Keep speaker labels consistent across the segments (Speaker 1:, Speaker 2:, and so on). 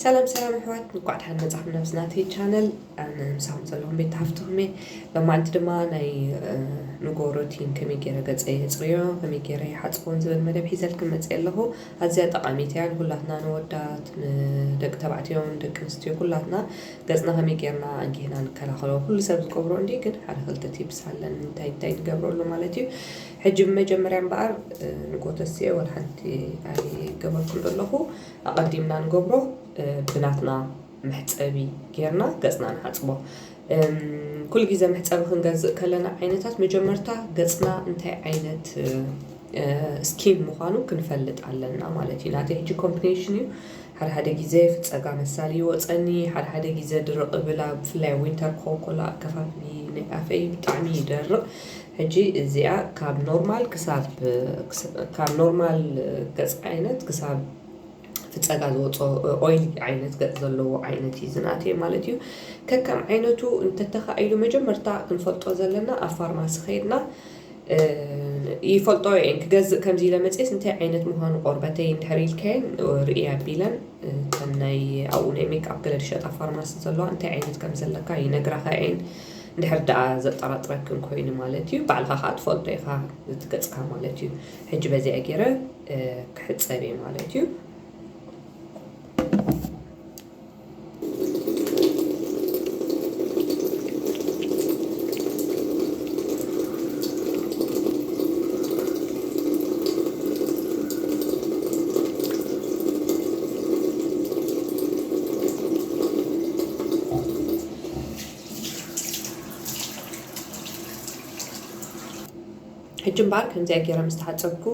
Speaker 1: ሰላም ሰላም ኣሕዋት እንኳዕ ድሓን መጻኹም ናብዚ ናተይ ቻነል ኣነ ምሳኹም ዘለኹም ቤት ሃፍትኹም እየ ሎማዓንቲ ድማ ናይ ንጎ ሮቲን ከመይ ገይረ ገጸ የጽርዮ ከመይ ገይረ ይሓጽቦን ዝብል መደብ ሒዘልክም መጽእ ኣለኹ ኣዝያ ጠቓሚት እያ ንኩላትና ንወዳት ንደቂ ተባዕትዮን ደቂ ኣንስትዮ ኩላትና ገጽና ከመይ ገይርና ኣንጊህና ንከላኸሎ ኩሉ ሰብ ዝገብሮ እንዲ ግን ሓደ ክልተ ቲፕስ ኣለኒ እንታይ እንታይ ንገብረሉ ማለት እዩ ሕጂ ብመጀመርያ እምበኣር ንጎ ተስኤ ወላ ሓንቲ ኣይገበርኩም ዘለኹ ኣቐዲምና ንገብሮ ብናትና መሕጸቢ ጌርና ገጽና ንሓጽቦ። ኩሉ ግዜ መሕጸቢ ክንገዝእ ከለና ዓይነታት መጀመርታ ገጽና እንታይ ዓይነት ስኪን ምዃኑ ክንፈልጥ ኣለና ማለት እዩ። ናተይ ሕጂ ኮምፕሌሽን እዩ። ሓደ ሓደ ግዜ ፍጸጋ መሳሊ ይወጸኒ፣ ሓደ ሓደ ግዜ ድርቕ እብል፣ ኣብ ብፍላይ ኣብ ዊንተር ክኸውን ከሎ ኣከፋፍሊ ናይ ኣፈይ ብጣዕሚ ይደርቕ። ሕጂ እዚኣ ካብ ኖርማል ክሳብ ካብ ኖርማል ገጽ ዓይነት ክሳብ እቲ ጸጋ ዝወጾ ኦይሊ ዓይነት ገጽ ዘለዎ ዓይነት እዩ ዝንኣትዮ ማለት እዩ። ከከም ዓይነቱ እንተተኻኢሉ መጀመርታ ክንፈልጦ ዘለና ኣብ ፋርማሲ ከይድና ይፈልጠኦ እየን ክገዝእ ከምዚ ኢለ መጽየስ እንታይ ዓይነት ምዃኑ ቆርበተይ እንድሕር ኢልከየን ርእየ ኣቢለን እተን ናይ ኣብኡ ናይ ሜክኣፕ ገለ ዝሸጣ ፋርማሲ ዘለዋ እንታይ ዓይነት ከም ዘለካ ይነግራኻ እየን። እንድሕር ደኣ ዘጠራጥረክን ኮይኑ ማለት እዩ ባዕልኻ ከኣ ትፈልጦ ኢኻ እቲ ገጽካ ማለት እዩ ሕጂ በዚኣ ጌረ ክሕጸብ እየ ማለት እዩ ሕጂ እምበኣር ከምዚኣ ገይረ ምስ ተሓጸብኩ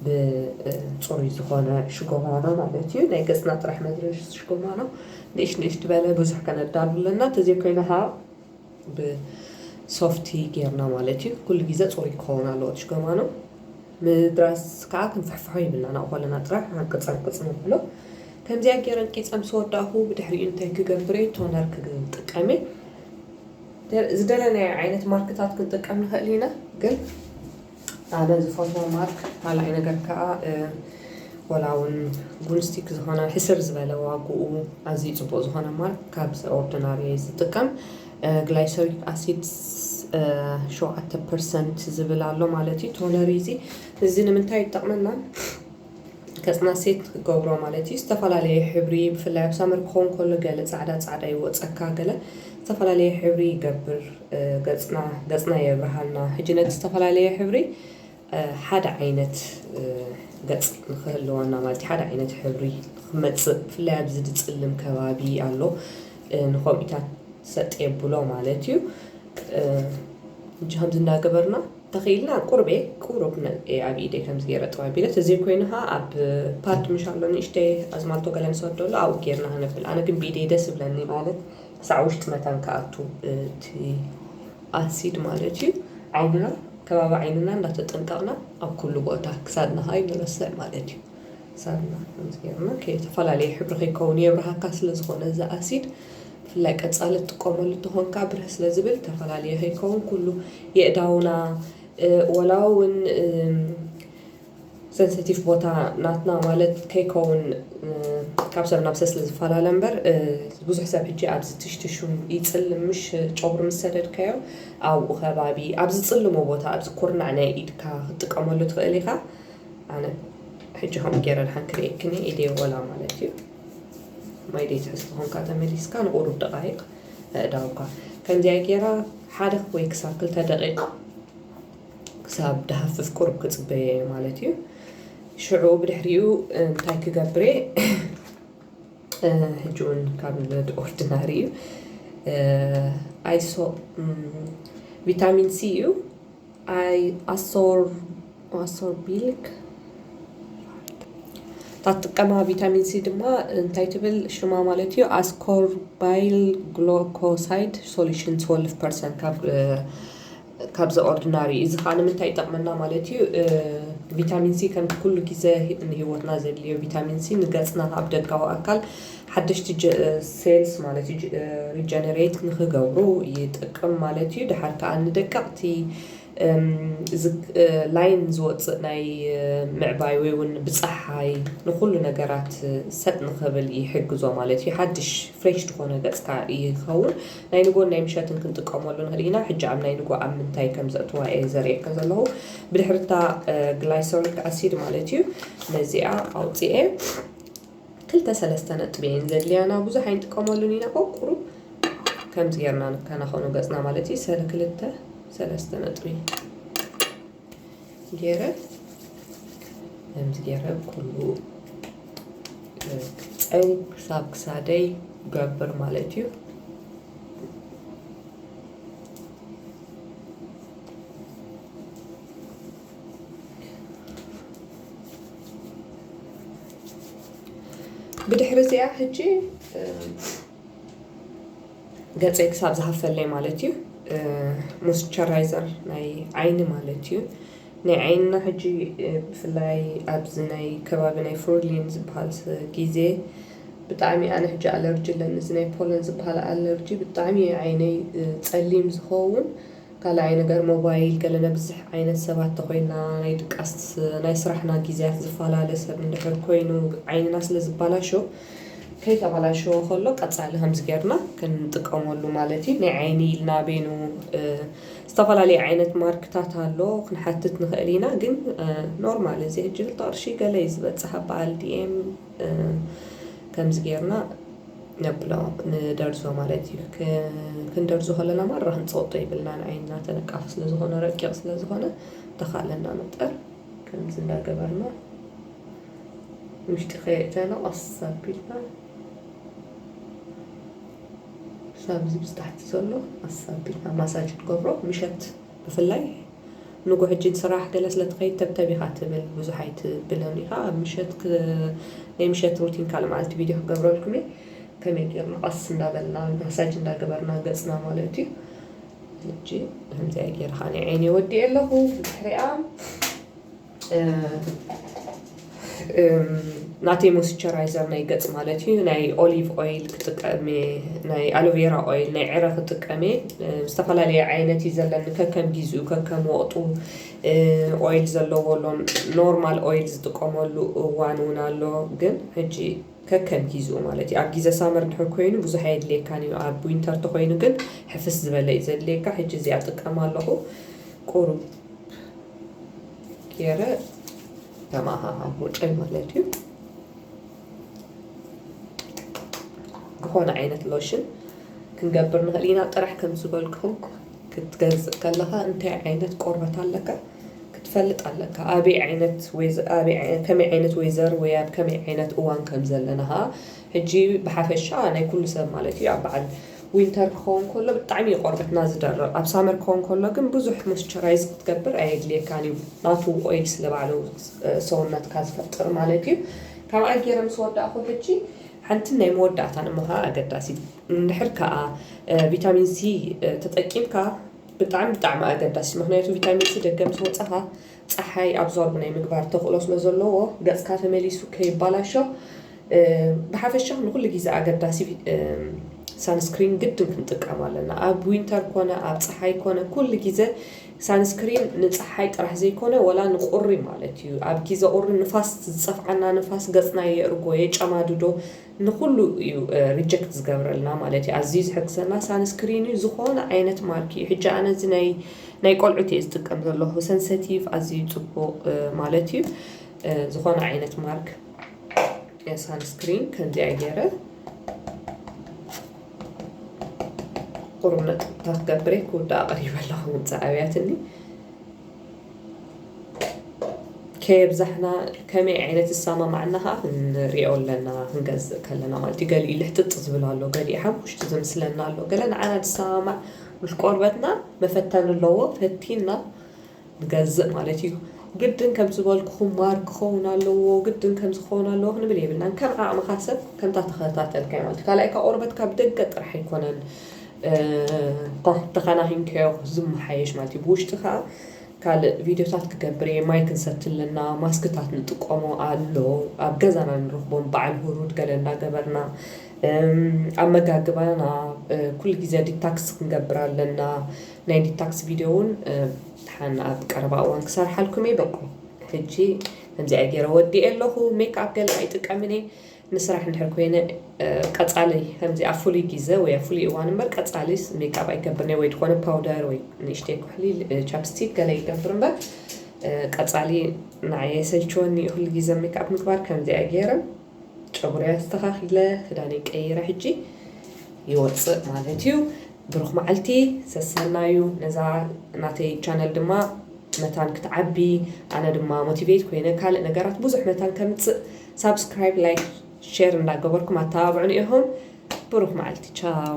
Speaker 1: ብጽሩይ ዝኾነ ሽጎማኖ ማለት እዩ ናይ ገጽና ጥራሕ መድረሽ ሽጎማኖ ንእሽ ንእሽ ትበለ ብዙሕ ከነዳሉ ኣለና ተዘይኮይኑ ሃ ብሶፍቲ ጌርና ማለት እዩ ኩሉ ግዜ ጽሩይ ክኸውን ኣለዎ እቲ ሽጎማኖ ምድራስ ከኣ ክንፍሕፍሖ የብልናን ኣብኡ ከለና ጥራሕ ሃንቅጽ ሃንቅጽ ነብሎ ከምዚኣ ጌረ እንቂጸ ምስ ወዳእኩ ብድሕሪኡ እንታይ ክገብር'የ ቶነር ክጥቀም'የ ዝደለናዮ ዓይነት ማርክታት ክንጥቀም ንክእል ኢና ግን ኣነ ዝፈትዎ ማርክ ካልኣይ ነገር ከኣ ወላ ውን ጉንስቲክ ዝኮነ ሕስር ዝበለ ዋግኡ ኣዝዩ ጽቡቅ ዝኮነ ማርክ ካብ ኦርዲናሪ ዝጥቀም ግላይሰሪክ ኣሲድ ሸውዓተ ፐርሰንት ዝብል ኣሎ ማለት እዩ ቶነሪ እዚ እዚ ንምንታይ ይጠቕመና ከፅና ሴት ገብሮ ማለት እዩ ዝተፈላለየ ሕብሪ ብፍላይ ኣብ ሳመር ክኸውን ከሎ ገለ ፃዕዳ ፃዕዳ ይወፀካ ገለ ዝተፈላለየ ሕብሪ ይገብር ገፅና ገፅና የብርሃልና ሕጂ ነቲ ዝተፈላለየ ሕብሪ ሓደ ዓይነት ገጽ ንክህልወና ማለት እዩ ሓደ ዓይነት ሕብሪ ንክመጽእ ብፍላይ ኣብዚ ዝጽልም ከባቢ ኣሎ ንከውኢታት ሰጥ የብሎ ማለት እዩ እጂ ከምዚ እንዳገበርና ተኽኢልና ቁርቤ ቁሩብ ነልኤ ኣብ ኢደይ ከምዚ ገይረ ጥብ ኣቢለ ተዘይኮይኑ ኸኣ ኣብ ፓድ ምሽ ኣሎ ንእሽተይ ኣዝማልቶ ገለ ንሰደሉ ኣብኡ ጌርና ክነብል ኣነ ግን ብኢደይ ደስ ይብለኒ ማለት ክሳዕ ውሽጢ መታን ክኣቱ እቲ ኣሲድ ማለት እዩ ዓይንና ከባቢ ዓይንና እንዳተጠንቀቅና ኣብ ኩሉ ቦታ ክሳድና ከኣ ኣይንረስዕ ማለት እዩ ክሳድና ከምዚ ገርና ዝተፈላለየ ሕብሪ ከይከውን የብርሃካ ስለ ዝኮነ እዚ ኣሲድ ብፍላይ ቀጻሊ ትጥቀመሉ ተኮንካ ብርህ ስለ ዝብል ተፈላለየ ከይከውን ኩሉ የእዳውና ወላ እውን ሰንሰቲፍ ቦታ ናትና ማለት ከይከውን ካብ ሰብ ናብ ሰብ ስለ ዝፈላለ እምበር ብዙሕ ሰብ ሕጂ ኣብዚ ትሽትሹ ይጽልም ምሽ ጨጉሪ ምስ ሰደድካዮ ኣብኡ ከባቢ ኣብ ዝጽልሞ ቦታ ኣብዚ ኩርናዕ ናይ ኢድካ ክትጥቀመሉ ትኽእል ኢኻ ኣነ ሕጂ ከምኡ ገይረ ድሓን ክርእየክን እየ ኢደይ ወላ ማለት እዩ ማይ ደይ ትሕዝ ተኾንካ ተመሊስካ ንቑሩብ ደቓይቕ ኣእዳውካ ከምዚኣ ገይራ ሓደ ወይ ክሳብ ክልተ ደቂቕ ክሳብ ድሃፍፍ ቁሩብ ክጽበዮ እየ ማለት እዩ ሽዑ ብድሕሪኡ እንታይ ክገብር እየ ሕጂ እውን ካብ ኦርዲናሪ እዩ ኣይሶ ቪታሚን ሲ እዩ ኣይ ኣሶር ኣሶር ቢልክ እታ ትጥቀማ ቪታሚን ሲ ድማ እንታይ ትብል ሽማ ማለት እዩ ኣስኮርባይል ግሎኮሳይድ ሶሉሽን 12 ፐርሰንት ካብ ካብ ዘ ኦርድናሪ እዩ። እዚ ከኣ ንምንታይ ይጠቅመና ማለት እዩ ቪታሚን ሲ ከምቲ ኩሉ ግዘ ንሂወትና ዘድልዮ ቪታሚን ሲ ንገጽና ኣብ ደጋዊ ኣካል ሓደሽቲ ሴልስ ማለት እዩ ሪጀነሬት ንክገብሩ ይጠቅም ማለት እዩ። ደሓር ከኣ ንደቀቅቲ ላይን ዝወጽእ ናይ ምዕባይ ወይ ውን ብጸሓይ ንኩሉ ነገራት ሰጥ ንክብል ይሕግዞ ማለት እዩ። ሓድሽ ፍሬሽ ዝኮነ ገጽካ ይከውን። ናይ ንጎን ናይ ምሸትን ክንጥቀመሉ ንክእል ኢና። ሕጂ ኣብ ናይ ንጎ ኣብ ምንታይ ከም ዘእትዋ እየ ዘርእየካ ዘለኩ። ብድሕሪ እታ ግላይሰሪክ ኣሲድ ማለት እዩ ነዚኣ ኣውጺኤ ክልተ ሰለስተ ነጥቢ እየን ዘድልያና ብዙሕ ኣይንጥቀመሉን ኢና ቆቁሩ ከምዚ ጌርና ንከናኸኖ ገጽና ማለት እዩ ሰለ ክልተ ሰለስተ ነጥቢ ገይረ ከምዚ ገይረ ኩሉ ፀይ ክሳብ ክሳደይ ገብር ማለት እዩ ብድሕሪ እዚኣ ሕጂ ገፀይ ክሳብ ዝሃፍተለይ ማለት እዩ ሞስቸራይዘር ናይ ዓይኒ ማለት እዩ ናይ ዓይንና ሕጂ ብፍላይ ኣብዚ ናይ ከባቢ ናይ ፍሩሊን ዝበሃል ግዜ ብጣዕሚ ኣነ ሕጂ ኣለርጂ ኣለኒ እዚ ናይ ፖለን ዝበሃል ኣለርጂ ብጣዕሚ እዩ ዓይነይ ፀሊም ዝኸውን ካላኣይ ነገር ሞባይል ገለ ነብዝሕ ዓይነት ሰባት ተኮይና ናይ ድቃስት ናይ ስራሕና ጊዝያት ዝፋላለ ሰብ እንድሕር ኮይኑ ዓይንና ስለ ዝባላሾ ከይተባላሸወ ከሎ ቀጻሊ ከምዚ ገርና ክንጥቀመሉ ማለት እዩ ናይ ዓይኒ ኢልና ቤኑ ዝተፋላለየ ዓይነት ማርክታት ኣሎ ክንሓትት ንክእል ኢና ግን ኖርማል እዚ ሕጂ ክልተ ቅርሺ ገለ እዩ ዝበጽሕ ኣብ ባዓል DM ከምዚ ጌርና ነብሎ ንደርዞ ማለት እዩ። ክንደርዞ ከለና ማራ ክንጸወቶ የብልናን ዓይንና ተነቃፊ ስለ ዝኾነ ረቂቕ ስለ ዝኾነ ብተኻእለና መጠን ከምዚ እንዳገበርና ውሽጢ ከየእተና ቀስ ኣቢልና ሳብ እዚ ምስ ታሕቲ ዘሎ ቀስ ኣቢልና ማሳጅ ንገብሮ ምሸት ብፍላይ። ንጉ ሕጂ ንስራሕ ገለ ስለ ትኸይድ ተብተብ ኢኻ ትብል ብዙሕ ኣይትብልን ኢኻ ኣብ ምሸት ክ ናይ ምሸት ሩቲን ካልእ መዓልቲ ቪድዮ ክገብረልኩም እየ ከመይ ጌርና ቀስ እንዳበልና ማሳጅ እንዳገበርና ገጽና ማለት እዩ ሕጂ ከምዚኣ ጌረ ከኣ ናይ ዓይነይ ወዲኤ ኣለኹ ብድሕሪኣ ናተይ ሞስቸራይዘር ናይ ገጽ ማለት እዩ ናይ ኦሊቭ ኦይል ክጥቀም እየ ናይ ኣሎቬራ ኦይል ናይ ዕረ ክጥቀም እየ ዝተፈላለየ ዓይነት እዩ ዘለኒ ከከም ጊዝኡ ከከም ወቕጡ ኦይል ዘለዎ ኣሎ ኖርማል ኦይል ዝጥቀመሉ እዋን እውን ኣሎ ግን ሕጂ ከከም ጊዝኡ ማለት እዩ ኣብ ጊዘ ሳመር ድሕር ኮይኑ ብዙሕ ኣየድልየካን እዩ ኣብ ዊንተር ተኾይኑ ግን ሕፍስ ዝበለ እዩ ዘድልየካ ሕጂ እዚኣ እጥቀም ኣለኹ ቁሩብ ገይረ ተመዓሙጨይ ማለት እዩ ዝኾነ ዓይነት ሎሽን ክንገብር ንኽእል ኢና ጥራሕ ከም ዝበልኩም ክትገዝእ ከለኻ እንታይ ዓይነት ቆርበት ኣለካ ክትፈልጥ ኣለካ ኣበይ ዓይነት ከመይ ዓይነት ወይዘር ወይ ኣብ ከመይ ዓይነት እዋን ከም ዘለና ከዓ ሕጂ ብሓፈሻ ናይ ኩሉ ሰብ ማለት እዩ ኣብ በዓል ዊንተር ክኸውን ከሎ ብጣዕሚ እዩ ቆርበትና ዝደርቕ ኣብ ሳመር ክኸውን ከሎ ግን ብዙሕ ሞስቸራይዝ ክትገብር ኣየድልየካን እዩ ናቱ ኦይል ስለ ባዕሉ ሰውነትካ ዝፈጥር ማለት እዩ ካብኣ ጌረ ምስ ወዳእኹ ሕጂ ሓንትን ናይ መወዳእታን እሞ ከኣ ኣገዳሲት እንድሕር ከኣ ቪታሚን ሲ ተጠቂምካ ብጣዕሚ ብጣዕሚ ኣገዳሲት ምክንያቱ ቪታሚን ሲ ደገ ምስ ወጻኻ ጸሓይ ኣብዞርብ ናይ ምግባር ተኽእሎ ስለ ዘለዎ ገጽካ ተመሊሱ ከይባላሾ ብሓፈሻ ንኹሉ ግዜ ኣገዳሲ ሳንስክሪን ግድን ክንጥቀም ኣለና። ኣብ ዊንተር ኮነ ኣብ ጸሓይ ኮነ ኩሉ ግዜ ሳንስክሪን ንጸሓይ ጥራሕ ዘይኮነ ወላ ንቁሪ ማለት እዩ ኣብ ግዜ ቁሪ ንፋስ ዝጸፍዓና ንፋስ ገጽና የእርጎ የጨማድዶ ንኩሉ እዩ ሪጀክት ዝገብረልና ማለት እዩ ኣዝዩ ዝሕግዘና ሳንስክሪን እዩ ዝኮነ ዓይነት ማርክ እዩ ሕጂ ኣነ እዚ ናይ ናይ ቆልዑት እየ ዝጥቀም ዘለኩ ሰንሰቲቭ ኣዝዩ ጽቡቅ ማለት እዩ ዝኮነ ዓይነት ማርክ ሳንስክሪን ከምዚኣ ገይረ ቁሩብ ነጥብታት ገብረ ክውዳእ ቀሪበ ኣለኩ ምምጻእ ኣብያትኒ ከየብዛሕና ከመይ ዓይነት ዝሰማማዕና ከኣ ክንሪኦ ኣለና ክንገዝእ ከለና ማለት እዩ ገሊኡ ልሕጥጥ ዝብል ኣሎ ገሊኡ ሓሙሽቲ ዝምስለና ኣሎ ገለ ንዓና ዝሰማማዕ ምስ ቆርበትና መፈተኒ ኣለዎ ፈቲና ንገዝእ ማለት እዩ ግድን ከም ዝበልኩኹም ማር ክኸውን ኣለዎ ግድን ከም ዝኸውን ኣለዎ ክንብል የብልናን ከም ዓቕምኻ ሰብ ከምታ ተኸታተልካዮ ማለት እዩ ካልኣይካ ቆርበትካ ብደገ ጥራሕ ኣይኮነን ተኻናኺንካዮ ዝመሓየሽ ማለት እዩ ብውሽጢ ከኣ ካልእ ቪድዮታት ክገብር እየ ማይ ክንሰቲ ኣለና ማስክታት ንጥቀሞ ኣሎ ኣብ ገዛና ንረኽቦም በዓል ሁሩድ ገለ እንዳገበርና ኣመጋግባና ኩሉ ግዜ ዲታክስ ክንገብር ኣለና ናይ ዲታክስ ቪድዮ እውን ድሓን ኣብ ቀረባ እዋን ክሰርሓልኩም እየ በቁ ሕጂ ከምዚኣ ገይረ ወዲኤ ኣለኹ ሜክኣፕ ገለ ኣይጥቀምን እየ ንስራሕ እንድሕር ኮይነ ቀጻሊ ከምዚ ኣብ ፍሉይ ጊዘ ወይ ኣብ ፍሉይ እዋን እምበር ቀጻሊ ሜክኣፕ ኣይገብርን'የ ወይ ድኾነ ፓውደር ወይ ንእሽተይ ኩሕሊ ቻፕስቲክ ገለ ይገብር እምበር ቀጻሊ ንዓይ የሰልችወኒ እዩ ኩሉ ጊዘ ሜክኣፕ ምግባር ከምዚኣ ገይረ ጨጉረይ ኣስተኻኺለ ክዳነይ ቀይረ ሕጂ ይወጽእ ማለት እዩ ብሩኽ መዓልቲ ሰሰናዩ ነዛ ናተይ ቻነል ድማ መታን ክትዓቢ ኣነ ድማ ሞቲቬት ኮይነ ካልእ ነገራት ብዙሕ መታን ከምጽእ ሳብስክራይብ ላይክ ሼር እንዳገበርኩም ኣተባብዑኒ ኢኩም ብሩክ መዓልቲ ቻው።